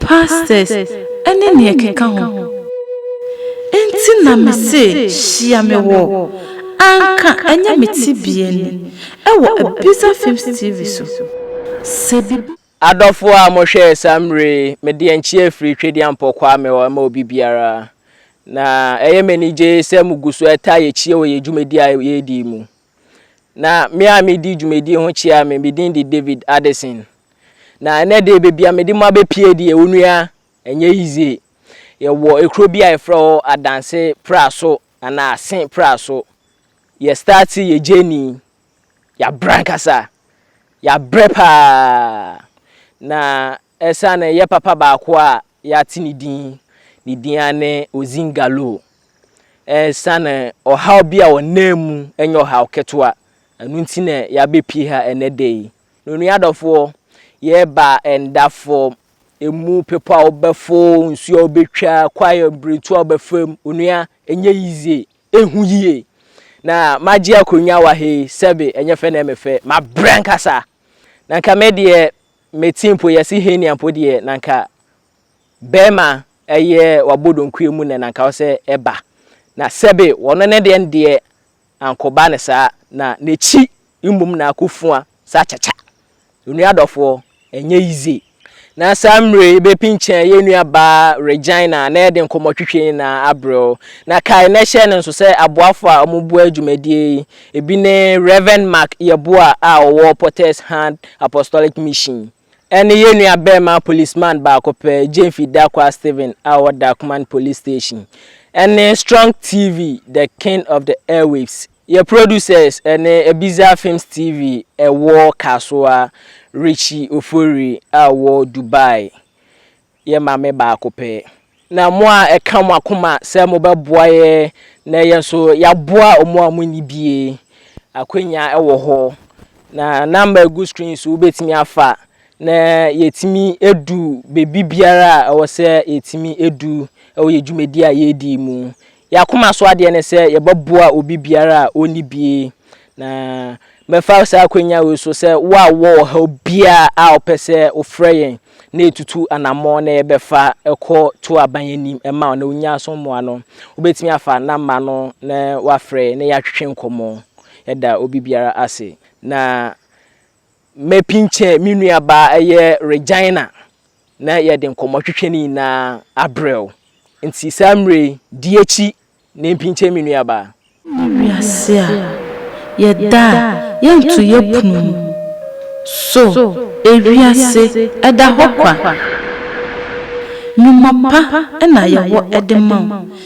Pastors ne nea ɛkeka ho. Enti na me se hyia me wɔ. Anka ɛnyɛ me tebea ni. Ɛwɔ Abiza Films TV so. Sɛ biribi. Adɔfoɔ a mo hwɛɛ saa mmerɛ yi, me deɛ nkyea firi Twedeampɔ kwaa me hɔ ma obi biara. Na ɛyɛ me anigye sɛ mo gu so taa yɛ kyia wɔ yɛn dwumadie a yɛredi yi mu. Na me a medi dwumadie ho kyia me, me din de David Addison. Na ɛnɛ deɛ baabi a mede mo abɛpie deɛ onua ɛnyɛ yizie. Yɛwɔ ekuro bi a yɛfrɛ hɔ Adanse Praso anaa Ase Praso. Yɛ start yɛ journey, yɛabrɛ ankasa, yɛabrɛ paa. Na ɛsiane yɛ papa baako a Yɛate ne din. Ne din ara ne Ozin Galoo. Esiane ɔhaw bi a ɔnam mu, ɛnyɛ ɔhaw ketewa, ɛno nti na yɛabɛpue ha ɛnnɛ da yi. Na onua adɔfoɔ, yɛreba nda fam. Ɛmu bepɔ a wobɛfo, nsuo a wobɛtwa, kwae a mprɛtu a wobɛfa mu, onua, ɛnyɛ yizie. Ɛhu yie. Na magye akonnwa wɔ ha yi, sɛbe ɛnyɛ fɛ na ɛmefɛ. Mabrɛ ankasa. Na nka me deɛ, me tse mpo yɛse henia mpo deɛ na nka bɛɛma ɛyɛ wabɔ donkuɛ mu nɛ na nka ɔsɛ ɛba na sɛbe wɔno ne deɛ ndeɛ ankɔba ne saa na n'akyi mmom na akɔ fua saa kyakya onua dɔfoɔ ɛnyɛ yize na saa mmire yi bɛpinkyɛn yɛ nua baa Regina na yɛde nkɔmɔtwetwe nyinaa abrɛ wo na kae na hyɛ no nso sɛ aboafo a wɔn boa dwumadie yi Ebi ne Rev. Mark Yeboah a ɔwɔ Potter's Hand Apostolic Mission ne yɛn nuabarima policeman baako pɛ, Gyamfi Darkwah Stephen a ɔwɔ Darkman Police Station, ne Strong TV, The King of the Airwaves. Yɛn producers ne Ebiza Films TV wɔ Kasoa, Richie Ofori a ɔwɔ Dubai, Yɛ maame baako pɛ. Na mo a ɛka mo akoma sɛ mobɛboa yɛ na yɛn nso yɛaboa wɔn a wɔnni bi yi, akwannya wɔ hɔ. Na namba a ɛgu screen so wobɛtumi afa na yɛatumi adu baabi biara a ɛwɔ sɛ yɛtumi du wɔ yɛn dwumadi a yɛredi yi mu. Yɛn akoma so adeɛ ne sɛ yɛbɛboa obi biara a ɔnni bi, na mɛfa saa akwanya wei so sɛ wo a wowɔ ɔhaw biara a wopɛ sɛ wofrɛ yɛn na yɛtutu anammɔn na yɛbɛfa kɔ to aban anim ma wo na wonya so mmoa no, wobɛtumi afa namba no na woafrɛ na yɛatwetwe nkɔmmɔ. Yɛda obi biara ase. Na Mapinkyɛ me nuabaa ɛyɛ Regina na yɛde nkɔmmɔ twetwe ne nyinaa abrɛw. Nti saa mmerɛ yi, di akyi na mpinkyɛ me nuabaa. Ne wiase a yɛda a yɛnto yɛ pono mu. So ewiase ɛda hɔ kwa? Nnwuma pa na yɛwɔ de ma wo.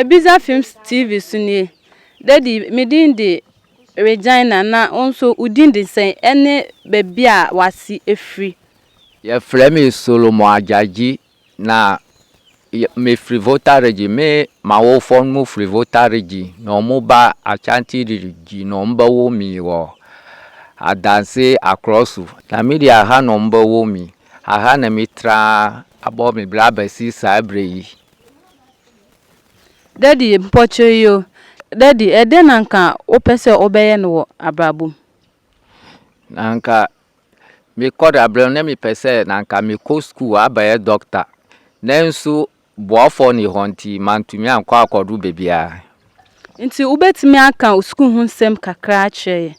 Ibiza Films TV so nie. Daddy, me din de Regina na wo nso wo din de sɛn ɛne baabi a w'ase firi? Yɛfrɛ me Solomon Agyagyi na me firi Volta Region. Me m'awofoɔ no mo firi Volta Region na wɔn mo ba Achanti Region na wɔn bɛ wo me wɔ Adanse Akorɔso. Na me deɛ aha na wɔn bɛ wo me, aha na me tra abɔ me bra bɛsi saa berɛ yi. Daddy, mpɔkyerɛ yi o. Daddy, ɛdɛn na anka wopɛ sɛ wobɛyɛ no wɔ abrabɔ mu? Na anka mekɔ da berɛ no na mepɛ sɛ na anka mekɔ sukuu abɛyɛ dɔkta. Nanso boafoɔ nni hɔ nti mantumi ankɔ akɔduru baabiara. Nti wobɛtumi aka wo sukuu ho nsɛm kakra akyerɛ yɛn?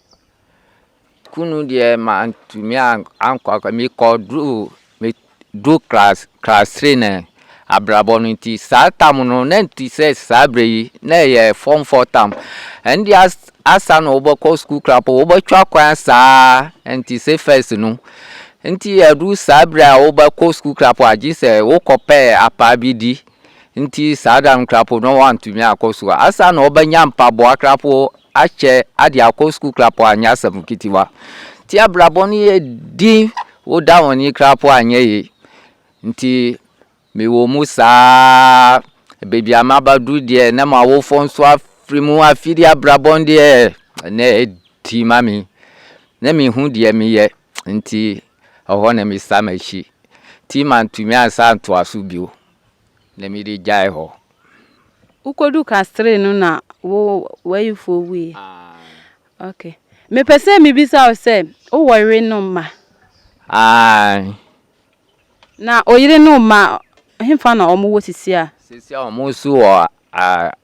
Kunu deɛ mantumi ankɔ akɔ mekɔduruu meduruu class class three no abrabɔ no nti saa tam no na ɛnte sɛ saa berɛ yi na ɛyɛ form four tam ɛno deɛ as asa na wobɛkɔ sukuu koraa mpo wobɛtwa kwan asa ara ɛnte sɛ first no nti ɛduru saa berɛ a wobɛkɔ sukuu koraa mpo agye sɛ wokɔpɛ apaa bi di Ntsi saa da no krapoo no ɔanntumii akɔ skuul. Asaana na ɔbɛnya mpaboa krapoo, akyɛ, adze akɔ skuul krapoo annyɛ asɛm nketsewa. Ntsi abrabɔ no yɛ dzinn wo da hɔn yi krapoo annyɛ yie. Ntsi mewɔ mu saa ara, beebi a mabadur deɛ na m'awofoɔ so afir mu afir abrabɔ no deɛ na ɛyɛ dzinn ma me. Na mennhu deɛ meyɛ. Nti ɛhɔ na me sa m'akyi. Nti mantumi ansa antoa so bio na mede gyae hɔ. Wokodu Castries no na wo w'ayefoɔ wuiɛ? Aane. Ok. Mepɛ sɛ mebisa wo sɛ, wo wɔ yere no mma? Aane. Na oyere no mma, hefa na wɔn wɔ sisi a? Sisi a wɔn nso wɔ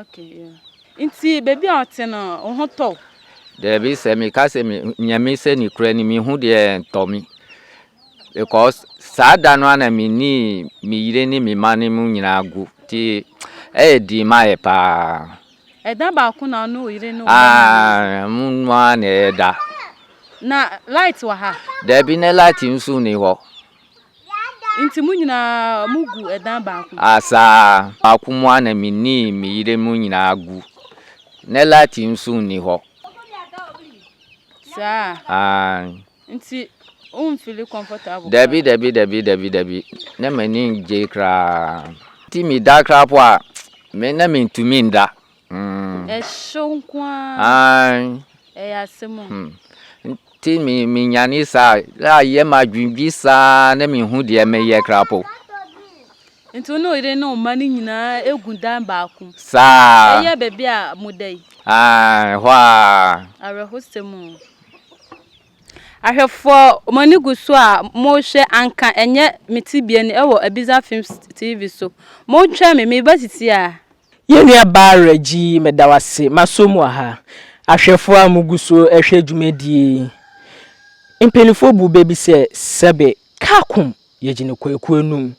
Okay, yeah. Nti baabi a ɔte no, wo ho tɔ wo? Daabi, sɛ meka sɛ me nea mesɛ ne kura ni mehu deɛ ɛntɔ me because saa da no ana menii me yere ne me ma no mu nyinaa gu nti ɛyɛ dii ma yɛ paa. Ɛda baako na ɔne wo yere ne wo ma no nyinaa? Mu noa na ɛda. Na light wɔ ha? Daabi, na light nso ni hɔ. Nti mo nyinaa mo gu ɛdan baako mu? Asaa, baako mu ara na me ni me yere mo nyinaa gu. Nɛ lati nso nni hɔ. Saa? Aane. Nti wo nfili comfortable koraa? Dabi, dabi, dabi, dabi, dabi. Nɛ m'ani ngye koraa. Nti me da koraa po a, me nɛ me ntumi nda. Ɛhyew nko ara. Aane. Ɛyɛ asɛm o. Hmm. Nti me me nyane saa a yɛ ma adwendwi saa na me hu deɛ me yɛ krapo. Nti wo ne oyere ne ɔma no nyinaa egu dan baako. Saa. Ɛyɛ baabi a mo da yi. Aane, ɛhɔ a. Awerɛhosɛm o. Ahwɛfoɔ, mo ani gu so a morehwɛ, anka ɛnyɛ me tebea ni wɔ Abiza Films TV so. Montwɛn me, mereba titi ara. Yɛn nua Bara Gyi, meda wo ase. M'aso mu wɔ ha. Ahwɛfoɔ a mo gu so rehwɛ dwumadie yi, mpaninfoɔ buu bɛ bi sɛ, Sɛbe, Kaakum, yɛgye no kwaku anum.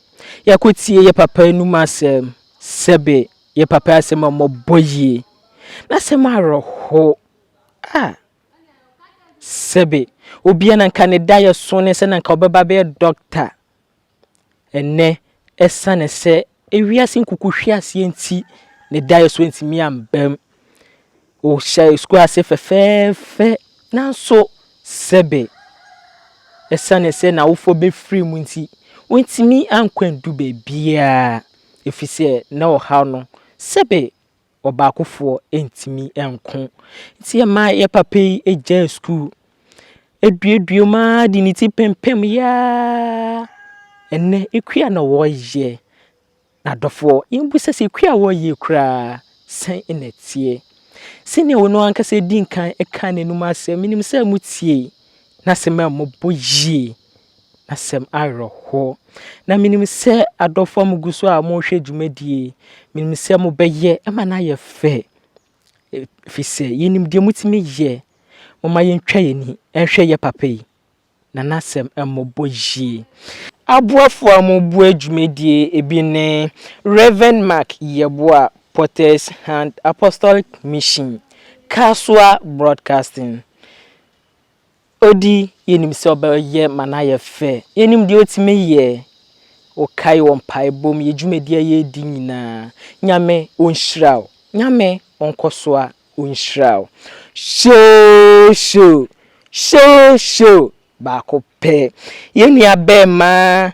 Yɛakɔ tie yɛ papa anum asɛm. Sɛbe, yɛ papa asɛm a ɔmɔ bɔ yie. N'asɛm awerɛho. Ah! Sɛbe obiara na anka ne daeɛso ne sɛ na anka ɔbɛba abɛyɛ dɔkta. Ɛnnɛ, ɛsiane sɛ wiase nkuku hwe aseɛ nti, ne daeɛso antumi ammam. Ɔhyɛɛ sukuu ase fɛfɛɛfɛ, nanso sɛbe ɛsiane sɛ n'awofoɔ bɛfirii mu nti, wantumi ankɔ andu baabiara, ɛfiri sɛ na ɔhaw no. Sɛbe ɔbaakofoɔ ntumi nko. Nti ɛmaa yɛ papa yi gyaa sukuu. Ɛduadua mu ara de ne ti pempameeɛ ara. Ɛnnɛ ɛkua na ɔreyɛ. M'adɔfoɔ, yɛmmisa sɛ ɛkua a ɔreyɛ yi koraa sɛn na ɛteɛ? Sɛdeɛ ɔno ankasa dii kan kaa n'anom asɛm, menim sɛ motiee n'asɛm a moabɔ yie. Asɛm awerɛhoɔ. Na menim sɛ adɔfoɔ a mogu so a morehwɛ dwumadie yi, menim sɛ mobɛyɛ ma no ayɛ fɛ, ɛfiri sɛ yɛnim deɛ motumi yɛ. Momma yɛntwa yɛn ani nhwɛ yɛn papa yi, na n'asɛm mmɔbɔ yie. Aboafoɔ a wɔboa dwumadie yi bi ne, Rev. Mark Yeboah, Potter's Hand Apostolic Mission, Kasoa Broadcasting. Odi, yenim sɛ ɔbɛyɛ ma no ayɛ fɛ. Yenim deɛ otumi yɛ. Wokae wɔ mpaebɔ mu, yɛ dwumadi a yɛredi nyinaa. Nyame ɔnhyira wo. Nyame ɔnkɔsoa ɔnhyira wo. Hyeehye o, hyeehye o, baako pɛ. Yɛn nua bɛɛma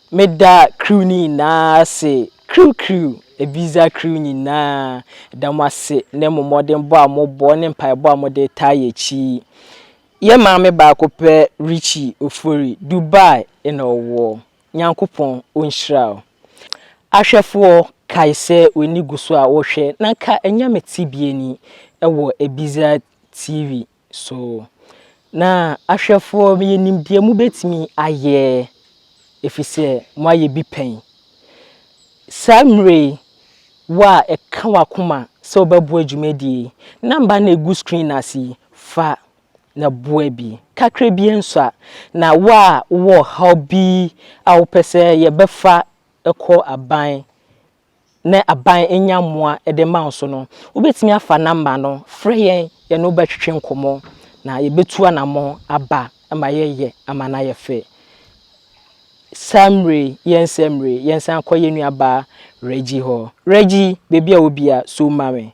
Meda crew no nyinaa ase, crew crew, Ebiza crew nyinaa, meda mo ase ne mo mmɔdenbɔ a mobɔ ne mpaebɔ a mode retaa yɛn akyi yi. Yɛn maame baako pɛ Richie Ofori, Dubai na ɔwɔ, Nyankopɔn ɔnhyira wo. Ahwɛfoɔ, kae sɛ w'ani gu so a wohwɛ na nka ɛnyɛ me tebea ni wɔ Ebiza TV So na ahwɛfoɔ yɛnim deɛ mobɛtumi ayɛ, ɛfiri sɛ moayɛ bi pɛn. Saa mmerɛ yi, wo a ɛka w'akoma sɛ wobɛboa dwumadie yi, number no a ɛgu screen no ase yi, fa na boa bi. Kakra biara nsua. Na wo a wowɔ ɔhaw bi a wopɛ sɛ yɛbɛfa kɔ aban na aban nya mmoa de rema wo so no, wobɛtumi afa nɔmba no frɛ yɛn, yɛne wo bɛtwetwe nkɔmmɔ na yɛbɛtu anammɔn aba ma yɛyɛ ama no ayɛ fɛ. Saa mmerɛ yi, yɛ nsa mmerɛ yi, yɛnsan kɔ yɛn nuabaa Reggie hɔ. Reggie, baabi a wɔ biara, so ma me.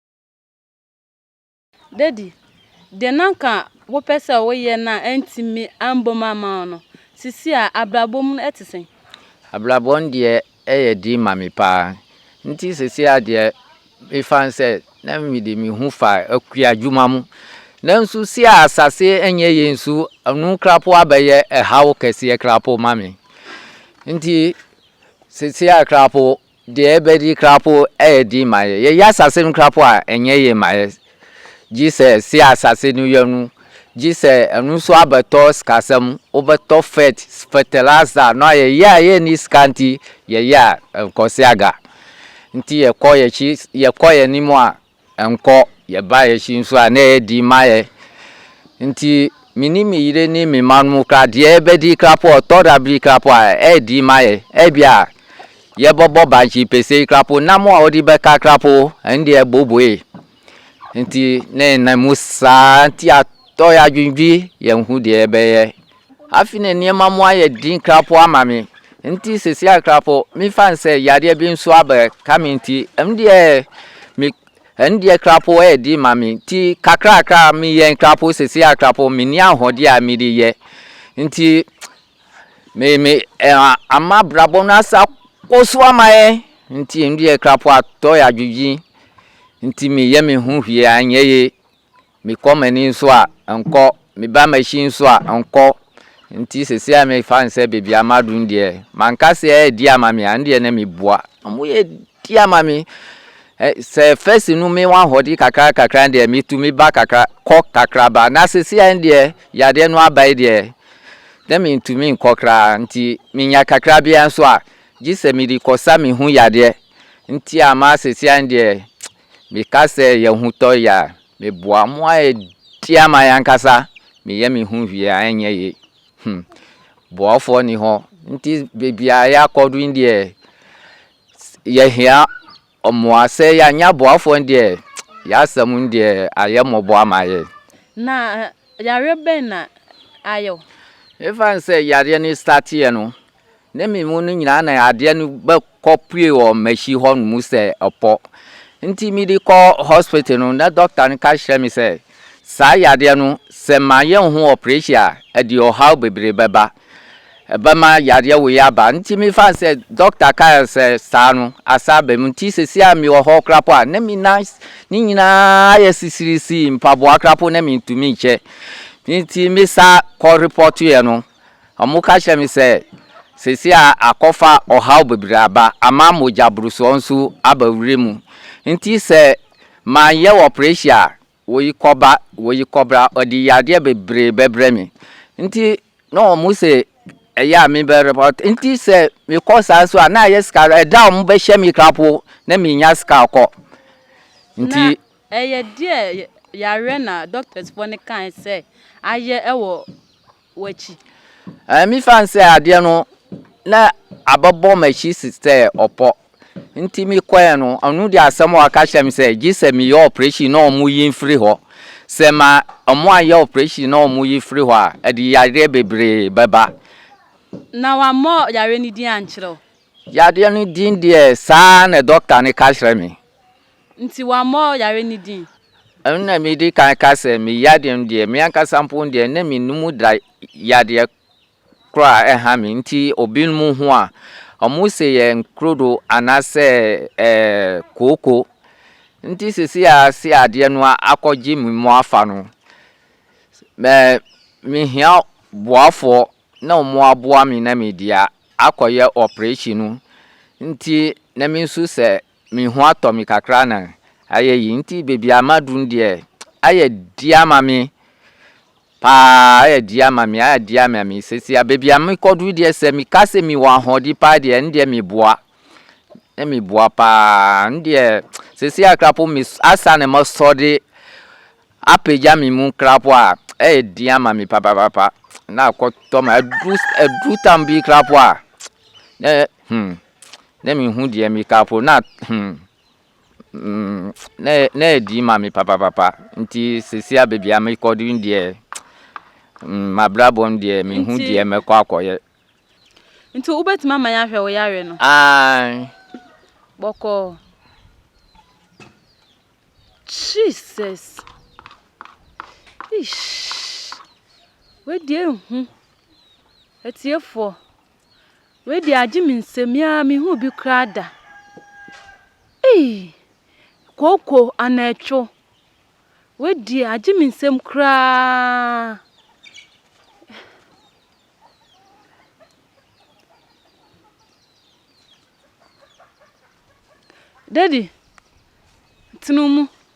Dadi, deɛ na anka wopɛ sɛ woyɛ na antumi ambom amma wo no, seesei a abrabɔ mu no ɛte sɛn? Abrabɔ no deɛ ɛyɛ den ma me paa. Nti seesei ara deɛ mefa no sɛ na mede me ho fa akuadwuma mu. Nanso sei a asase nyɛ yei nso, ɛno koraa po abɛyɛ ɛhaw kɛseɛ koraa po ma me. Nti seesei ara koraa po, Deɛ ɛbɛdi koraa mpo yɛ den ma yɛn. Yɛyɛ asase no koraa mpo a, ɛnyɛ yie ma yɛn. Gye sɛ se asase no yɛ no, gye sɛ ɛno nso abɛtɔ sikasɛm, wobɛtɔ fɛt, fɛtɛlasa, no a yɛyɛ a yɛnni sika nti, yɛyɛ a ɛkɔse aga. Nti yɛkɔ yɛn akyi, yɛkɔ yɛn anim a, Nkɔ, yɛbaa yɛhye nso a na ɛyɛ den ma yɛn. Nti me ne me yere ne me mma no mu koraa deɛ yɛbɛdi koraa po ɔtɔ da bere koraa po a ɛyɛ den ma yɛn. Ebia yɛbɛbɔ bankye pese yi koraa po, nam a wɔde bɛka koraa po ɛno deɛ ɛboboe. Nti na yɛnam mu saa nti atɔ yɛn adwendwene yɛnhu deɛ yɛbɛyɛ. Afei na nneɛma mu ayɛ den krapoo ama me. Nti sɛsi ayɛ krapoo, mefa no sɛ yadeɛ bi nso abɛka me nti, ɛno deɛ me ɛno deɛ krapoo ɛyɛ den ma me. Nti kakrakra meyɛ krapoo sɛsi ayɛ krapoo, menni ahoɔden a mede yɛ. Nti me me ɛɛ ama abrabɔ no asa kɔ so ama yɛn. Nti ɛno deɛ krapoo atɔ yɛ adwedwen. Nti meyɛ me ho hwee anyɛ yie. mekɔ m'ani nso a, nkɔ, meba m'akyi nso a, nkɔ. Nti sɛsi a mefa no sɛ baabi a maduru no deɛ, manka sɛ adi ama me a, ɛndeɛ na mebua. Wɔadi ama me. Sɛ first no mewɔ ahoɔden kakra kakra deɛ, metumi ba kakra, kɔ kakra ba. Na sɛsi a ɛndeɛ, yadeɛ no aba yi deɛ, na mentumi nkɔ koraa. Nti menya kakra bi ara nso a, gye sɛ mede kɔsa me ho yadeɛ. Nti ama sɛsi a ɛndeɛ, Meka sɛ yɛn ho tɔ yɛ a, meboa mo a ɛdi ama yɛn ankasa, meyɛ me ho hwie a ɛnyɛ yie. Hmm. Boafoɔ nni hɔ. Nti baabi a yɛakɔdo yi deɛ, yɛhia mmoa. Sɛ yɛannya boafoɔ no deɛ, yɛn asɛm no deɛ, ayɛ mmɔbɔ ama yɛn. Na yareɛ bɛn na ayɛ wo? Ɛfane sɛ yareɛ no starteeɛ no, ne me mu no nyinaa na adeɛ no bɛkɔpue wɔ m'akyi hɔ nom sɛ ɔpɔ nti mede kɔ hospital no na dɔkta no ka kyerɛ me sɛ saa yadeɛ no sɛ mayɛ ho operation a ɛde ɔhaw bebree bɛba ɛbɛma yadeɛ wei aba nti mefa sɛ dɔkta kaa sɛ saa no asa aba mu nti sɛsi a mewɔ hɔ korapo a na me nan ne nyinaa yɛ sisirisi mpaboa korapo na mentumi nkyɛ nti mesa kɔ repɔtoeɛ no Wɔka kyerɛɛ me sɛ, Seesei akɔfa ɔhaw bebree aba, ama mogyaborosoɔ nso aba wura mu. Enti sɛ manyɛ ɔprehyɛn a, wɔyi kɔba, wɔyi kɔbra, wɔde yadeɛ bebree bɛbrɛ me. Enti na wɔse ɛyɛ a mebɛ report. Enti sɛ mekɔ saa nso a, na ayɛ sika, ɛda a wɔbɛhyɛ me krapo na mennya sika kɔ. Nti. Na ɛyɛ deɛ yareɛ na doctors foɔ no kae sɛ ayɛ wɔ w'akyi. Ɛɛ, mefa no sɛ adeɛ no na abɛbɔ m'akyi sɛ ɔpɔ. Nti mekɔɛ no, ɔno de asɛm a ɔka kyerɛ me sɛ, gye sɛ meyɛ operation na ɔmo yi mfiri hɔ. Sɛ ma ɔmo anyɛ operation na ɔmo yi firi hɔ a, ɛde yareɛ bebree bɛba. Na wammɔ yareɛ no din ankyerɛ wo? Yareɛ no din deɛ, saa na dɔkta no ka kyerɛ me. nti wammɔ yare no din. Ɛno na medi kan ka sɛ me yadeɛ no deɛ, me ankasa mpo deɛ na me num da yadeɛ korɔ a ɛha me nti obinom ho a, wɔn se yɛ nkrodo anaasɛ ɛɛ kooko. Nti sisi a se adeɛ no akɔgye me mu afa no, mɛ mehia boafoɔ na wɔn aboa me na mede akɔyɛ operation no. Nti na mensu sɛ Me ho atɔ me kakra na ayɛ yie nti baabi a maduru no deɛ ayɛ di ama me paa ayɛ di ama me ayɛ di ama me seesei a baabi a mekɔduru deɛ sɛ meka sɛ mewɔ ahoɔden paa deɛ ɛno deɛ meboa na meboa paa ɛno deɛ seesei a koraa po me asa na masɔ de apagya me mu koraa po a ɛyɛ di ama me papaapa na akɔtɔ me aduru aduru tam bi koraa po a na hmm Na menhu deɛ meka mpo, na hmm mm na ɛdi ma me papapapa. Nti seesei a baabi a mekɔ duru deɛ mm m'abrabɔ no deɛ menhu deɛ mɛkɔ akɔyɛ. Nti wobɛtumi ama yɛahwɛ wo yareɛ no? Aane. Bɔkɔɔ. Jesus! Eish! Wei deɛ ɛhu. Atiefoɔ. Wei deɛ agye me nsam yi ara mehu bi koraa da. Ei! Kooko anatwo. Wei deɛ agye me nsam koraa. Daddy, tena mu.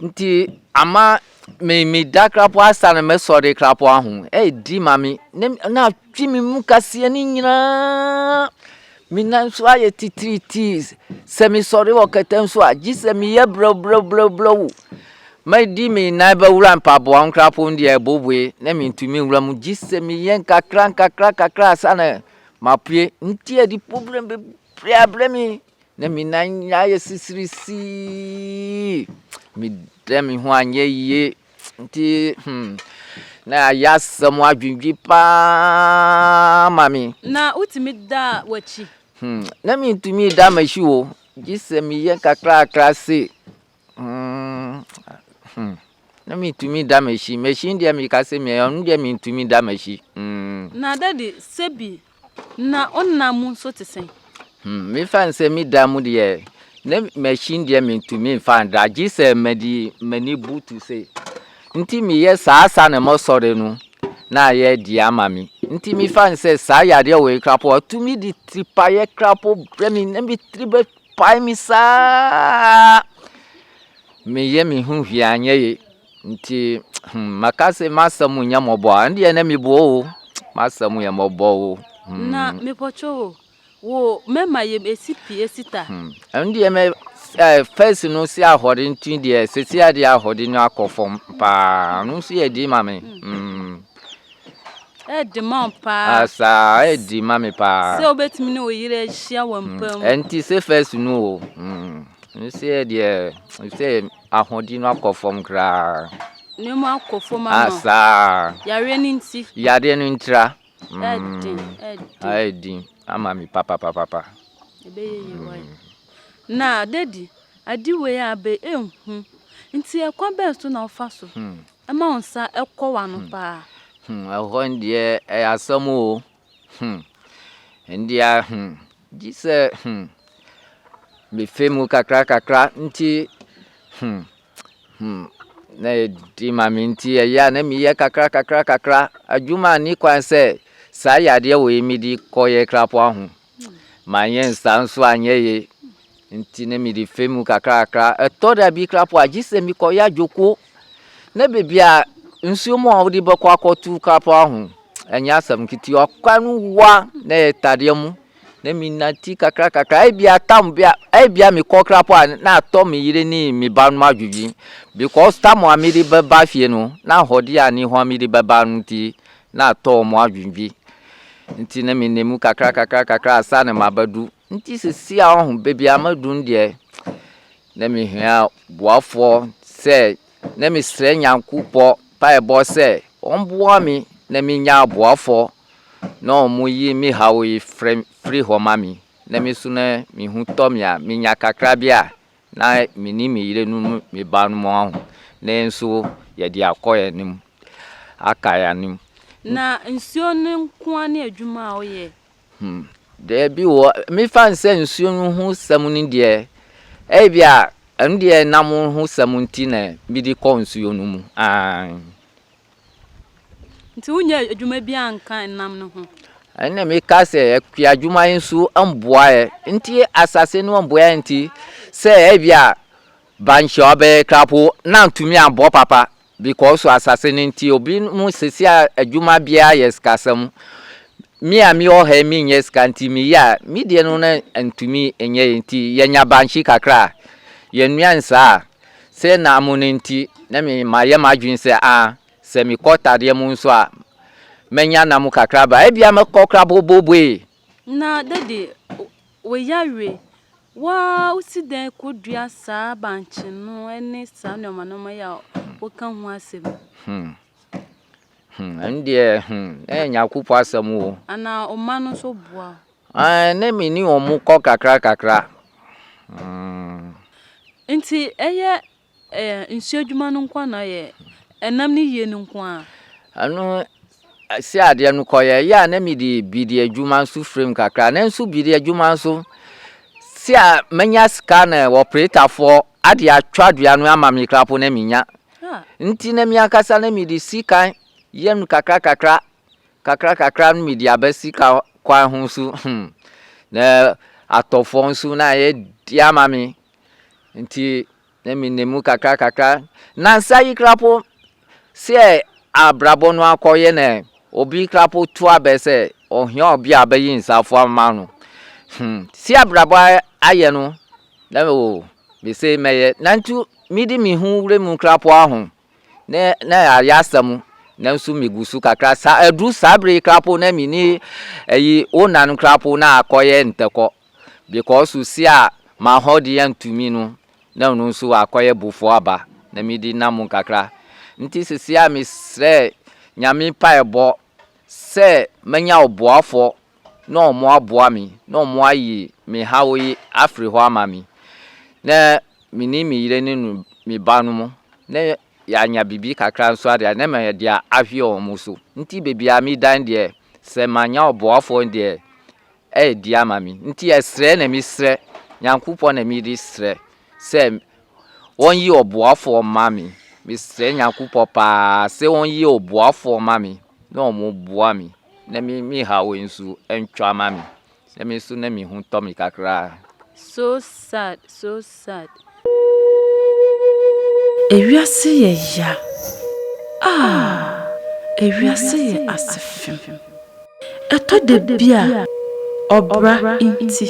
Ntsi ama me meda krapo asa na mɛsɔ de krapo aho edi ma me na na atwe me mu kaseɛ no nyinaa me nan nso ayɛ titiritii sɛ mesɔre wɔ kɛtɛ nso a gye sɛ meyɛ brɛbrɛbrɛbrɛw madi me nan bɛwura mpaboa nkrapo no deɛ ɛboboe na mentumi nwura mu gye sɛ meyɛ nkakra nkakra nkakra ansa na mapue nti ɛde problem bebree abrɛ me Na me nan nyinaa yɛ sisirisii. Me dɛ me ho anyɛ yie. Nti hmm, na ayɛ asɛm adwendwen paa ma me. Na wotumi da w'akyi? Hmm, na mentumi da m'akyi o, gye sɛ meyɛ kakrakra se Hmmm na me tumi da machine machine deɛ me ka sɛ me ɔno deɛ me tumi da machine hmmm. Na daddy sɛbi na wo nna mu nso te sɛn. Hmmm me fa nsɛ me da mu deɛ na machine deɛ me tumi nfa nda gye sɛ ma di mani butu sɛ nti me yɛ saa saa na mɔ sɔre no na ayɛ deɛ ama me nti me fa nsɛ saa yadeɛ wɔ yi koraa po atumi di tiri pa yɛ koraa po brɛ me na me tiri bɛ. pae me saa meyɛ me ho hwee anyɛ ye nti hmm maka se m'asɛm nyɛ mmɔbɔ a ɛndeɛ na mebɔ o m'asɛm yɛ mmɔbɔ o hmm na mepɔtwo o wo mɛma yɛm ɛsi pi ɛsi ta hmm ɛndeɛ mɛ eh, first no si ahɔde nti deɛ sese adeɛ ahɔde no akɔ fam paa no nso yɛ di ma me hmm Ɛɛde ma wo paa. Ah, saa, ɛɛde ma me paa. Sɛ wobɛtumi ne wo yere ahyia wɔ mpa mu. Ɛnti sɛ first no o. Mm, mesɛ deɛ, sɛ ahoɔden no akɔ fam koraa. Nneɛma akɔ fam ama. Ah, saa. Yareɛ no nti. Yareɛ no ntira. Mm, ɛɛde, ɛɛde. Ɛɛde ama me papapapapa. Ɛbɛyɛ yie wɔ yɛ. Na daddy, ade wei a abɛ ɛnhu. Nti ɛkwan bɛn so na wofa so? Hmm. Ɛma wo nsa kɔ w'ano paa. Hmm, ɛhɔ ndeɛ ɛyɛ asɛm o. Hmm, ndeɛ hmm, gye sɛ hmm, mefe mu kakra kakra nti hmm, hmm, na ɛdi ma me nti ɛyɛ a na meyɛ kakra kakra kakra adwuma ani kwan sɛ saa yadeɛ wɔ yi medi kɔyɛ krapo aho Manyɛ nsa nso anyɛ ye nti ne mede fɛ mu kakrakra. Ɛtɔ da bi kra po a gye sɛ mekɔyɛ adwoko na baabi a nsuo mu a wode bɛkɔ akɔto kra po aho ɛnyɛ asɛm ketewa. Kwan no wa na ɛyɛ tadeɛ mu na menante kakrakakra ebia tam bi a ebia mekɔ kra po a na atɔ me yere ne me ba no adwodwi because tam a mede bɛba fie no na ahɔde a ne ho a mede bɛba no nti na atɔ wɔn adwendwe. Nti na menam mu kakra kakra kakra ansa na mabɛdu. Nti sisi a ɔho baabi a madu no deɛ na mehia boafoɔ sɛ na mesrɛ Nyankopɔ mpaebɔ sɛ ɔmboa me na menya aboafoɔ na wɔn yi me haw yi firi hɔ ma me na me so na me ho tɔ me a menya kakra bi a Na me ne me yere no ne me ba no mu aho, na nso yɛde akɔ yɛn anim, aka yɛn anim. Na nsuo no nko ara ne adwuma a woyɛ? Hmm, daabi o, mefa no sɛ nsuo no ho sɛm no deɛ, ebi a ɛno deɛ nam ho sɛm nti na mede kɔ nsuo no mu. Aane. Nti wonyɛɛ adwuma biara anka nam no ho? Ɛnna meka sɛ, Ɛkua adwuma yi nso mboa yɛ. Nti asase no mboa yɛ nti, sɛ ebia bankye ɔbɛyɛ koraa mpo, na antumi ambɔ papa because asase no nti. Ebinom sisi a adwuma biara yɛ sikasɛm. Me a mewɔ ha yi menyɛ sika nti meyɛ a, me deɛ no na antumi nyɛ yɛ nti, yɛnya bankye kakra a, yɛnoa nsaa a, Sɛ na mo no nti, na me mayɛ m'adwene sɛ a, sɛ mekɔ tadeɛ mu nso a, mɛnya nam kakra ba. Ebia mɛkɔ koraa boboobue. Na Dady, woyare, woaa wosi dɛn kɔdua saa bankye no ne saa nnoɔma nnoɔma yi a woka ho asɛm yi? Hmm. Hmm, ɛno deɛ, hmm, na ɛyɛ Nyankopɔn asɛm o. Anaa wo mma no nso boa wo? Ae, na me ne wɔn kɔ kakra kakra. Mm. Nti ɛyɛ ɛɛ nsuo adwuma no nko na yɛ ɛnam ne yie no nko ara? Ɛno si adeɛ no kɔ yɛ yɛ a na me de bidi adwuma nso firim kakra na nso bidi adwuma nso si a manya sika na ɔpretafoɔ ade atwa dua no ama me krapo na me nya. Nti na me ankasa na me de si kan yɛ no kakra kakra Kakra kakra no mede aba sika kwan ho nso hmm na atɔ fam nso na ayɛ di ama me nti na me na mu kakra kakra na nsa yi kra po sɛ abrabɔ no akɔyɛ na obi kra po to abɛ sɛ ɔhia obi a bɛyi nsa fo ama no hmm si abrabɔ ayɛ no na o me se mɛyɛ na nti mede me ho wura mu kra po aho ne na ayɛ asɛm nanso megu so kakra sa aduru saa bere koraa po na me ni ayi wo nanom koraa po na akɔyɛ ntɛkɔ because si a m'ahoɔden antumi no na ɔno nso akɔyɛ bofo aba na mede nam kakra nti sisi a mesrɛ nyame mpaebɔ sɛ manya ɔboafoɔ na wɔaboa me, na wɔayi me haw yi afiri hɔ ama me, na me ne me yere ne no me ba no mo, na yɛanya biribi kakra nso adeɛ a, na ma yɛde ahwe wɔn mo so. Nti baabi a medan deɛ, sɛ manya ɔboafoɔ deɛ, ɛyɛ di ama me. Nti ɛsrɛ na mesrɛ, Nyankopɔn na mede srɛ sɛ wɔn yi ɔboafoɔ mma me mesrɛ Nyankopɔn paa sɛ wɔn yi ɔboafoɔ mma me na wɔn boa me na me me ha wei nso ntwa ma me na me nso na me ho tɔ me kakra. So sad so sad. Ewiase yɛ ya ah ewiase yɛ asefem ɛtɔ da bi a ɔbra nti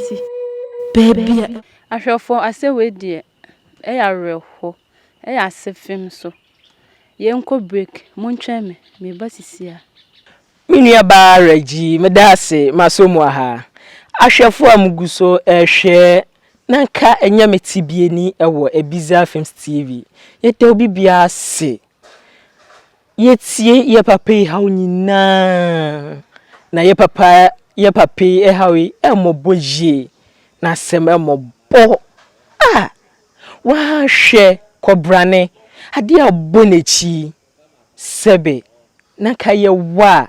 baabi a. Ahwɛfoɔ asɛ wei deɛ ɛyɛ awerɛhoɔ ɛyɛ asefem so yɛnkɔ break montwɛn me meba sisiaa. Me nua baa Reggie medaase masɔ mu aha. Ahwɛfoɔ a mo gu so rehwɛ na nka ɛnyɛ me tibiani wɔ Ebiza films TV yɛda obi biara ase. Yɛtie yɛ papa yi haw nyinaa, na yɛ papa yɛ papa yi haw yi mmɔbɔ yie, na asɛm mmɔbɔ a, woanhwɛ kɔbrane adeɛ a ɔbɔ n'akyi yi, sɛbe na nka yɛwɔ a,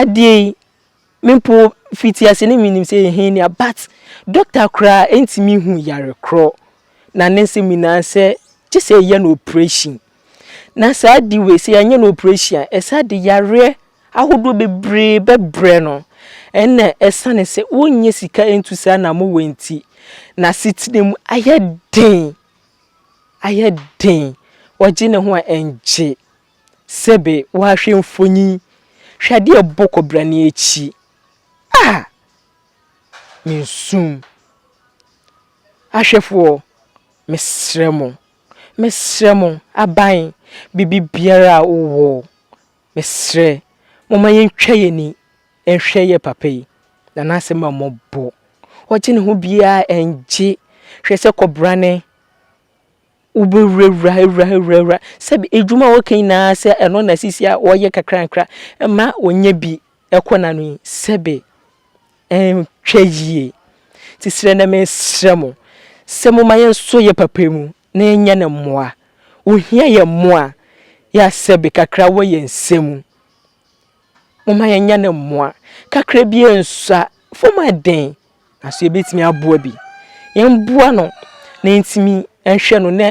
Adeɛ yi me mpo fiti ase no menim sɛ ɛyɛ hernia but doctor koraa ɛntumi hu yare korɔ na ne nsɛm nyinaa sɛ gye sɛ yɛyɛ no operation na saa ade wei sɛ yɛanyɛ no operation a ɛsɛ ade yareɛ ahodoɔ bebree bɛbrɛ no ɛna ɛsane sɛ wonyɛ sika ntu saa na mo wɔ nti na asetena mu ayɛ den ayɛ den ɔgye ne ho a ɛngye. Sɛbe woahwɛ mfonyin, hwɛ ade a ɛbɔ kɔbere no akyi a, minsum. Ahwɛfoɔ, mesrɛ mo, mesrɛ mo, aban, biribiara a wowɔ, mesrɛ, momma yɛntwa yɛn ani nhwɛ yɛn papa yi, na n'asɛm a mmɔbɔ. Ɔgye ne ho biara ngye. Hwɛ sɛ kɔbere no. wobɛwurawura, awura, awura, awura. Sɛbi adwuma a wɔka nyinaa sɛ ɛno na sisi a wɔyɛ kakrankra ma wɔnya bi kɔ n'ano yi, sɛbi ɛntwa yie. Nti srɛ na mesrɛ mo sɛ momma yɛnsɔ yɛ papa mu na yɛnyɛ no mmoa. Wɔhia yɛ mmoa, yɛ a sɛbi kakra wɔ yɛn nsa mu. Momma yɛnyɛ no mmoa kakra bi nsua fam a dɛn na so yɛbɛtumi aboa bi. Yɛmboa no na yɛntumi nhwɛ no na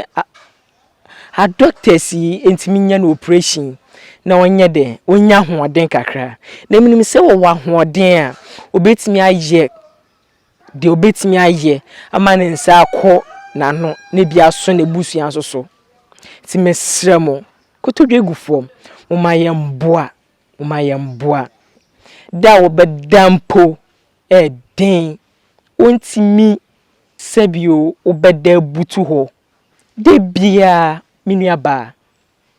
adɔktɛs yi ntumi nyɛ no oprehyɛn na ɔnyɛ dɛ, ɔnya ahoɔden kakra. Na menim sɛ ɔwɔ ahoɔden a ɔbɛtumi ayɛ. deɛ ɔbɛtumi ayɛ ama ne nsa akɔ n'ano na ebi aso n'abusua nso so. Nti mesrɛ mo, kotodwe gufoɔ, momma yɛmmoa, momma yɛmmoa. Da a wɔbɛda mpo ɛyɛ den, wontumi sɛbio wobɛda abutu hɔ. Da biara me nuabaa,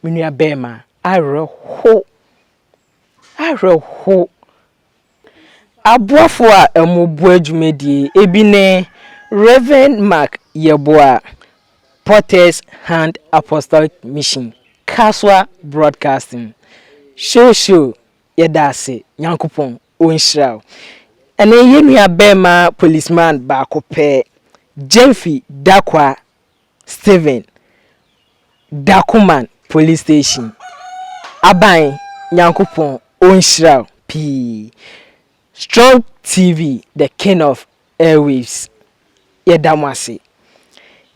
me nuabarima, awerɛho, awerɛho. Aboafo a wɔboa dwumadie yi, ebi ne Rev. Mark Yeboah, Potter's Hand Apostolic Mission, Kasoa Broadcasting, Shosho, yɛda ase, Nyankopɔn ɔnhyira wo. Ɛne yɛn nua bɛɛma Policeman baako pɛ, Gyamfi Dakwah Stephen Dacoman Police Station aban Nyankopɔn onhyira wo pii Strong TV the king of airwaves yɛda mo ase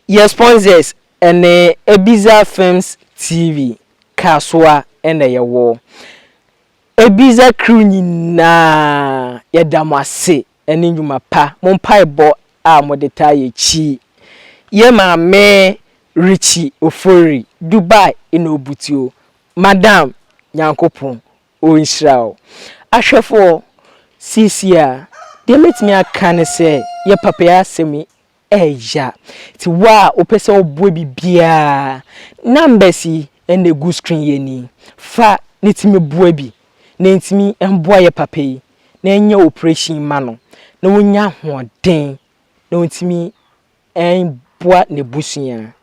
Yɛ sponsors ɛne Ebiza Films TV Kasoa ɛna yɛwɔ Ebiza crew nyinaa yɛda mo ase ne nnwuma pa. Mo mpaebɔ a mode taa yɛ kyi yɛ Maame Richie Ofori, Dubai na obutuo. Madam Nyankopɔn ɔnhyira wo. Ahwɛfoɔ, seesei a deɛ mɛtumi aka ne sɛ yɛ papa yi asɛm yi Ɛya ti wo a wopɛ sɛ woboa biribiara a, numbers yi na egu screen yi ani, fa ne tumi boa bi na entumi mboa yɛ papa yi na ɛnyɛ operation yi ma no na onya ahoɔden na ontumi mboa n'abusua.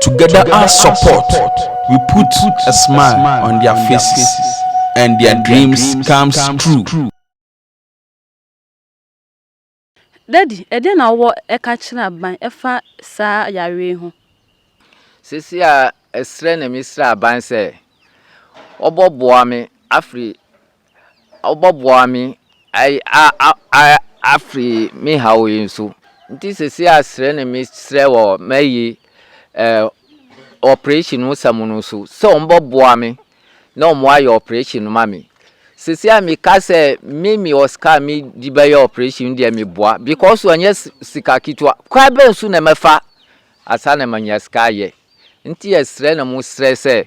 Together our support we put a smile on their faces and their dreams comes true. Daddy, ɛdeɛn na wowɔ ɛka kyerɛ aban ɛfa saa yareɛ yi ho? Sesei a ɛserɛ na mesrɛ aban sɛ wɔbɔ boa me afiri ɔbɔboa me afri me haw yi so nti sɛsei a srɛ ne me srɛ wɔ mayi ɔprehyɛn ho sɛm no so sɛ ɔmo bɔboa me na ɔmo ayɛ ɔprehyɛn no ma me sɛsei a meka sɛ me me wɔ sika a mede bɛyɛ ɔprehyɛn no deɛ meboa bikɔs ɔnyɛ sika ketewa kwan bɛn so na mɛfa ansa na manya sika ayɛ nti yɛsrɛ ne mo srɛ sɛ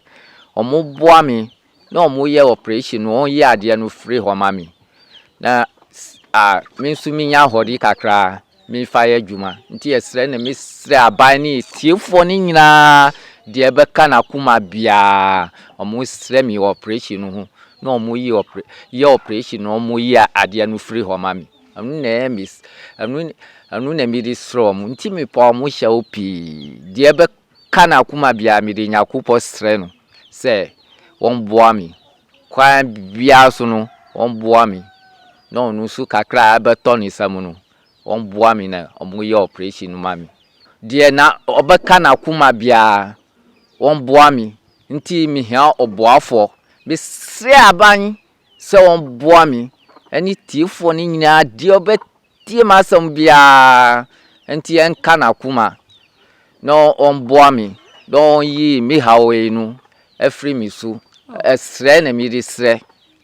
ɔmo boa me na ɔmo yɛ ɔprehyɛn no ɔmo yi adeɛ no fri hɔ ma me na me nso me nya ahɔde kakra me fa yɛ adwuma nti yɛsrɛ na me srɛ aban ne atiefoɔ no nyinaa deɛ ɛbɛka no akoma biaa ɔmo srɛ me ɔprehyɛn no ho na ɔmo yi ɔpre yɛ ɔprehyɛn no ɔmo yi adeɛ no fri hɔ ma me ɛno na ɛyɛ me ɛno na mede srɛ ɔmo nti me pa ɔmo hyɛ wo pii deɛ ɛbɛ. Ka na akoma biara mede Nyakopɔ srɛ no sɛ wɔn boa me kwan biara so no wɔn boa me na ɔno nso kakra a ɛbɛtɔ ne nsa mu no wɔn boa me na wɔn yɛ operation no ma me deɛ na ɔbɛka na akoma biara wɔn boa me nti me hia ɔboafoɔ me srɛ aban sɛ wɔn boa me ɛne tiefoɔ no nyinaa deɛ ɔbɛ Tie m'asɛm biara nti ɛnka n'akoma na ɔmboa me na ɔnyi me haw yi no afiri me so. Ɛserɛ na mede serɛ,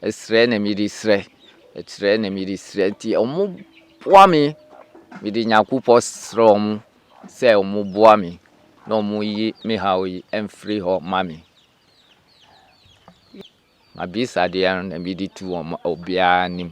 ɛserɛ na mede serɛ, ɛserɛ na mede serɛ. Nti wɔmmoa me, mede Nyankopɔn serɛ wɔn sɛ wɔmmoa me na wɔnyi me haw yi mfiri hɔ mma me. M'abisadeɛ no na mede tu wɔn obiara anim.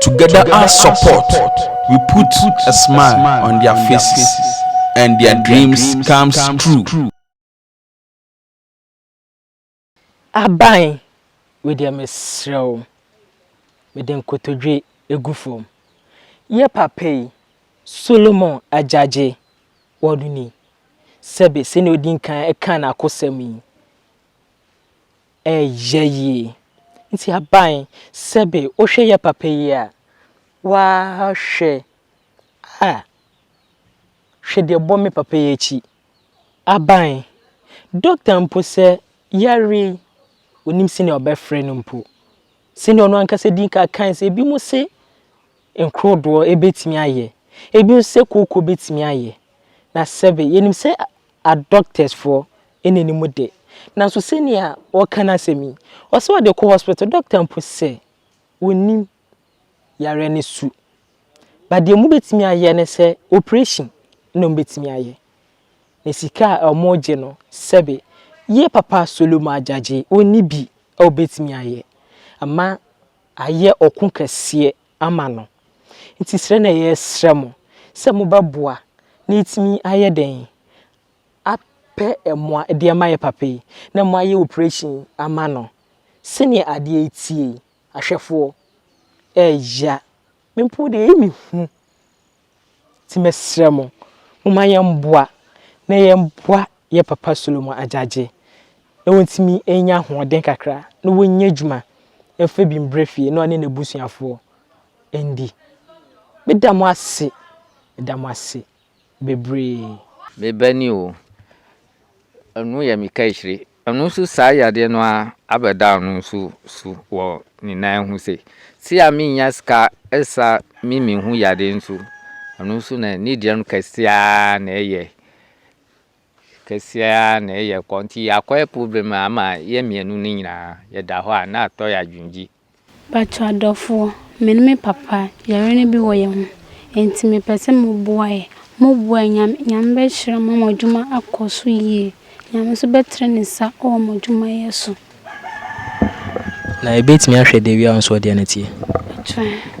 Together our support we put a smile on their faces and their dreams comes true. Aban wei deɛ mesrɛ wo mede nkotodwe gu fam. Yɛ papa yi, Solomon Agyagye, ɔno ni. Sɛbe sɛdeɛ ɔdi nkan kaa n'akosɛm yi. Ɛyɛ yie. Nti aban, sɛbe wohwɛ yɛ papa yi a, waa hwɛ a, hwɛ deɛ bɔ me papa yi akyi. Aban, doctor mpo sɛ yareɛ yi, ɔnim sɛdeɛ ɔbɛfrɛ no mpo. Sɛdeɛ ɔno ankasa dii kan kaeɛ sɛ, binom se Nkodoɔ bɛtumi ayɛ. Ebi nso sɛ kooko bɛtumi ayɛ. Na sɛbe, yɛnim sɛ adɔktɛsfoɔ na nim de. Nanso sɛnea ɔreka n'asɛm yi, ɔse ɔde kɔ hospital, dɔkta mpo sɛ ɔnnim yareɛ no su. But deɛ wɔbɛtumi ayɛ ne sɛ operation na wɔbɛtumi ayɛ. Na sika a wɔregye no, sɛbe, yɛ papa Solomon Agyagye, ɔnni bi a ɔbɛtumi ayɛ ama. ayɛ ɔko kɛseɛ ama no. Nti srɛ na yɛsrɛ mo sɛ mobɛboa na yɛtumi ayɛ dɛn? Apɛ mmoa de ama yɛn papa yi na moayɛ operation yi ama no. Sɛdeɛ adeɛ reteɛ yi, ahwɛfoɔ, ɛɛya. Me mpo deɛ ɛyɛ me hu. Nti mɛsrɛ mo, momma yɛmboa na yɛmboa yɛn papa Solomon Agyagye na ɔntumi nya ahoɔden kakra na ɔnya adwuma mfa bi mbrɛ fie na ɔne n'abusuafoɔ ndi. Meda mo ase, meda mo ase bebree. Me ba ni o. Ɛno yɛ me kaahyire. Ɛno nso saa yadeɛ no ara abɛda ɔno nso so wɔ ne nan ho sei. Sei a mennya sika sa me me ho yadeɛ nso, ɛno nso na ne deɛ no kɛseɛ ara na ɛyɛ. Kɛseɛ ara na ɛyɛ kɔ nti akɔyɛ problem ama yɛn mmienu no nyinaa yɛda hɔ a na atɔ yɛn adwendwi. Mpakyɛw adɔfoɔ, me ne me papa yare no bi wɔ yɛn ho nti me pɛ sɛ mo boa yɛ. Mo boa yɛ Nyame Nyame bɛ hyira mo ama mo adwuma akɔ so yie. Nyame nso bɛ tre ne nsa wɔ mo adwuma yɛ so. Na yɛbɛtumi ahwɛ deɛ wia wo nso ɔdeɛ no teɛ? Mpakyɛw.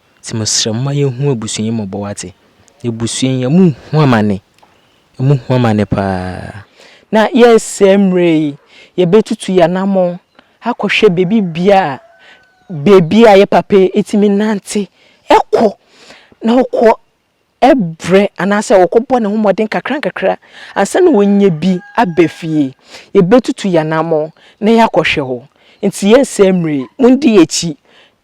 Nti mesrɛ momma yɛnhu abusua yi mmɔbɔ wate. Abusua yi ɔmo hu amane. Ɔmo hu amane paa. Na yɛsɛ mmerɛ yi yɛbɛtutu yɛn anamɔn akɔhwɛ baabi bia a baabi a yɛ papa yi tumi nante kɔ na ɔkɔ brɛ anaasɛ ɔkɔ bɔ ne ho mmɔden kakra nkakra ansa na wanya bi aba fie. Yɛbɛtutu yɛn anamɔn na yɛakɔhwɛ hɔ. Nti yɛsɛ mmerɛ yi mondi yɛn akyi.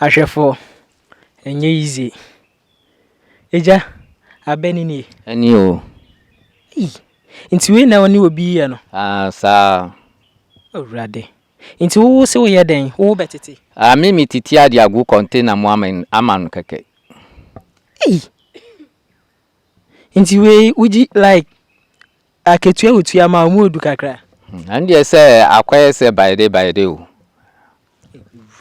Ahwɛfo, ɛnyɛ yize. Agya, abɛ ni nie? Ɛni o. Ei! Nti wei na ɔne obi yɛ no? Aa, saa. Awurade! Nti wo wo se wo yɛ dɛn? Wo wo bɛ tete? Aa, me me titi ade agu kɔntena mu ama ama no kɛkɛ. Ei! Nti wei wogye like Akatua a wotua ma wɔn mu du kakra. Ɛno deɛ sɛ akɔyɛ sɛ bayede bayede o.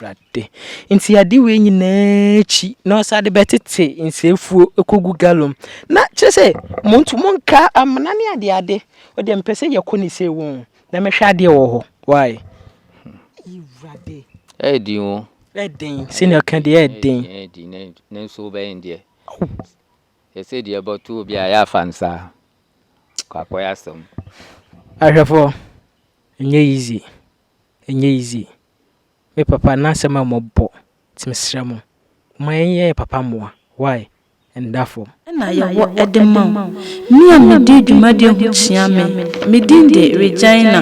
Awurade. Nti ade wei nyinaa akyi na ɔsan de bɛtete nsɛmfuo kɔgu galɔn na kyerɛ sɛ mo nto mo nka amena ne adeade ɔdeɛ mepɛ sɛ yɛkɔ ne sei wɔ na mɛhwɛ adeɛ wɔ hɔ why. Awurade. Ɛɛdin o. Ɛɛdin sɛnea ɔka deɛ ɛɛdin. Ɛɛdin nanso wobɛyɛ deɛ. Yɛsɛ deɛ bɔto obi a yɛ fa nsa kwakoe asɛm. Ahwɛfoɔ ɛnyɛ easy ɛnyɛ easy me papa na asɛm a mɔbɔ nti mesrɛ mo momma yɛn yɛ yɛ papa mmoa why ɛnda fam. na yɛwɔ de ma wo. Me a medi dwumadie ho kyea me, me din de Regina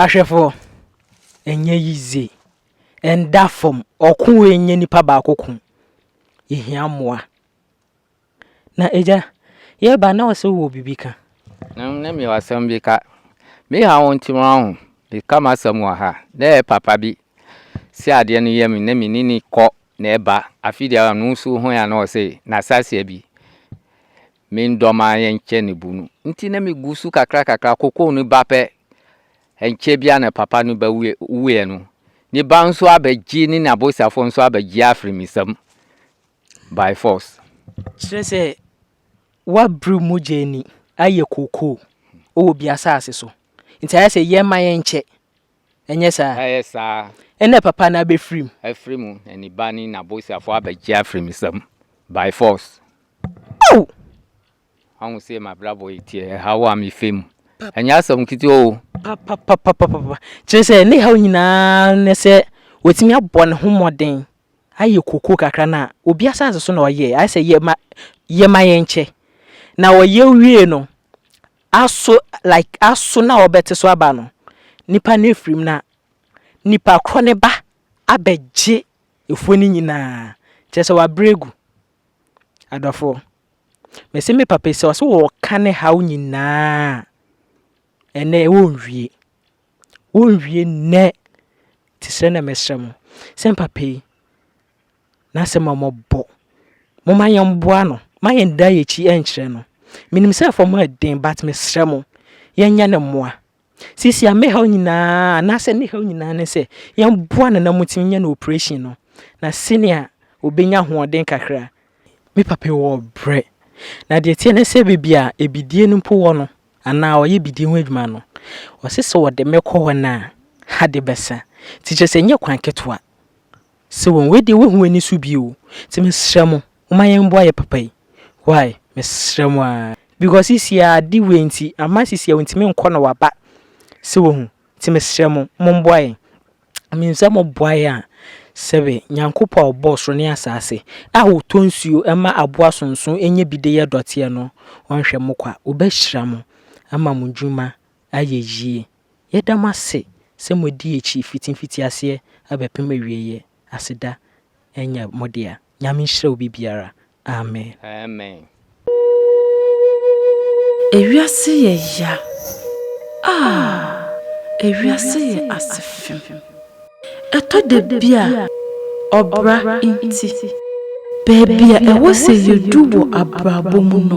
Ahwɛfo, ɛnyɛ yize, ɛnda fam, ɔko wei nyɛ nipa baako ko, yɛhia mmoa. Na agya, yɛba na ɔsɛ wɔ biribi ka. Na mewɔ asɛm bi ka. Me haw nti wahu, meka m'asɛm wɔ ha. Na ɛyɛ papa bi sɛ adeɛ no yɛ me na menni no kɔ Na eba afe di awa no nsu ho ya na ɔse, Na sasia bi, me ndɔ ma yɛnkyɛ ne bu no nti na me gu su kakra kakra kokoo ne ba pɛ. Ɛnkyɛ bia na papa ne ba wuiɛ no, ne ba nso aba gye ne n'abosafoɔ nso aba gye afiri me sam by force. Kyerɛ sɛ w'abiri mogya ani ayɛ kokoo wɔ obi asaase so nti ayɛ sɛ yɛmma yɛnkyɛ Ɛnyɛ saa? Ɛyɛ saa. Ɛnna papa no abɛfiri mu. Afiri mu, na ne ba ne n'aboseafoɔ abɛgye afiri me nsam, by force. Ow! Woahu sɛdeɛ m'abrabɔ yi teɛ, ɛhaw a mefa mu. Ɛnyɛ asɛm ketewa o. Papapapapapa. Kyerɛ sɛ, ne haw nyinaa ne sɛ watumi abɔ ne ho mmɔden ayɛ koko kakra no a, obi asase so na ɔyɛɛ. Ayɛ sɛ yɛ ma, yɛ ma yɛnkyɛ. Na ɔyɛ wiee no, Aso like aso na ɔbɛte so aba no nipa no afiri mu na nipa korɔ no ba abɛgye afuo no nyinaa kyerɛ sɛ wabrɛ agu adɔfoɔ mese me papa sɛ ɔse wɔka ne haw nyinaa ɛnɛ wɔnwie wɔnwie nnɛ ti sɛ na mesrɛ mo sɛ papa yi n'asɛm a wɔbɔ. Momma yɛmmoa no. Mma yɛndan yɛn akyi nkyerɛ no. Menim sɛ fam ha yɛ den, but mesrɛ mo, yɛnyɛ no mmoa. Seesei a me haw nyinaa, anaasɛ ne haw nyinaa ne sɛ, yɛmmoa no na montumi nyɛ no oprehyɛn no, na sɛnea ɔbɛnya ahoɔden kakra. Me papa yi wɔ brɛ, na deɛ ɛteɛ ne sɛ baabi a abidie no mpo wɔ no, anaa ɔyɛ abidie ho adwuma no, ɔse sɛ wɔde me kɔ hɔ no a, ade bɛsa. Nti kyerɛ sɛ ɛnyɛ kwan ketewa. Sɛ wɔn wei deɛ wahu ani so bio o nti mesrɛ mo momma yɛn mboa yɛ papa yi wai mesrɛ mo aa because sisi aa ade wei nti ama sisi aa ɔntumi nkɔ na waba sɛ wahu nti mesrɛ mo mo mboa yɛn menim sɛ mo boa yɛn a sɛbe Nyankopɔn a ɔbɔɔ soro ne asaase a ɔtɔ nsuo ma aboa sonso nya bi de yɛ dɔteɛ no ɔnhwɛ mo kwa ɔbɛhyira mo ama mo dwuma ayɛ yie. Yɛda mo ase sɛ mo adi akyi fiti mfitiaseɛ abɛpem awieɛ, aseda nyɛ mo dea. Nyame nhyira obi biara. Amen. Amen. Ewiase yɛ ya aah ewiase yɛ asefem Ɛtɔ da bi a ɔbra nti. Baabi a ɛwɔ sɛ yɛdu wɔ abrabɔ mu no